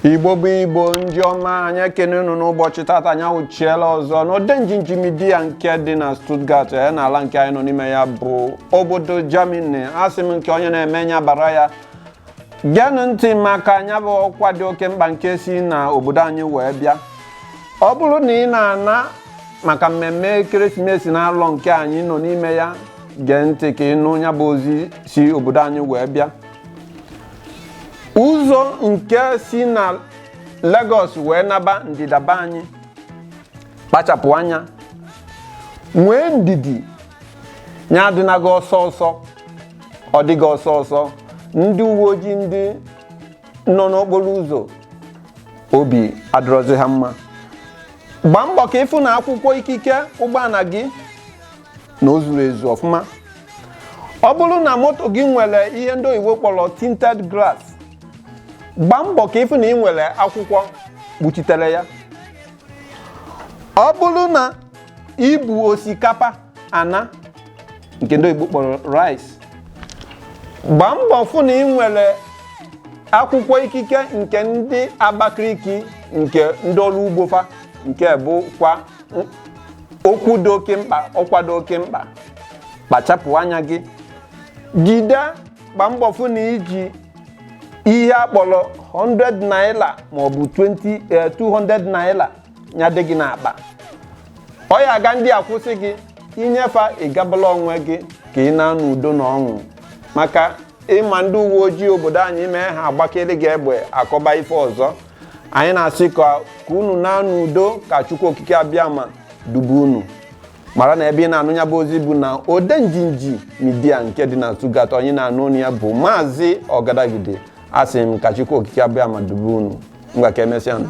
igbo bụ igbo ndị ọma anyị ekene unu n'ụbọchị tata anyị awụchiela ọzọ n'Odenjinji Media nke dị na Stuttgart ya na ala nke anyị nọ n'ime ya bụ obodo Germany asị m nke onye na-eme nya bara ya geenụ ntị maka nya bụ ọkwa dị oke mkpa nke si na obodo anyị wee bịa ọ bụrụ na ị na-ana maka mmemme ekeresimesi na alọ nke anyị nọ n'ime ya gee ntị ka ị nụ nya bụ ozi si obodo anyị wee bịa ụzọ nke si na Lagos wee naba ndịda be anyị kpachapụ anya nwee ndidi nya adịna gị ọsọ ọsọ ọ dị gị ọsọ ọsọ ndị uwe ojii ndị nọ n'okporo ụzọ obi adịrọzi ha mma gbaa mbọ ka ị fụ na akwụkwọ ikike ụgbọala gị na o zuru ezu ọfụma ọ bụrụ na moto gị nwere ihe ndị oyibo kpọrọ tinted glass gbaa mbọ ka ị fụ na ị nwere akwụkwọ kpuchitere ya ọ bụrụ na i bu osikapa ana nke ndị oyibo kpọrọ rice gbaa mbọ fụ na ị nwere akwụkwọ ikike nke ndị Abakaliki nke ndị ọrụ ugbo fa nke bụkwa okwu dị oke mkpa ọkwa dị oke mkpa kpachapụ anya gị jide gbaa mbọ fụ na i ji ihe a kpọrọ 100 naira maọbụ 20 eh, 200 naira nya dị gị n'akpa ọ ya aga ndị a kwụsị gị i nye fa ị gabala onwe gị ka ị naa n'udo na ọṅụ maka ị ma ndị uwe ojii obodo anyị mee ha agbakere gị egbe akọba ife ọzọ anyị na-asị ka ka unu naa n'udo ka Chukwu Okike Abịama dube unu mara na ebe ị na-anụ nya bụ ozi bụ na Odenjinji Media nke dị na Stuttgart onye na-anụ onu ya bụ maazị Ọgadagidi asị m ka Chukwu Okike Abịama dube unu ngwa ka emesịa nụ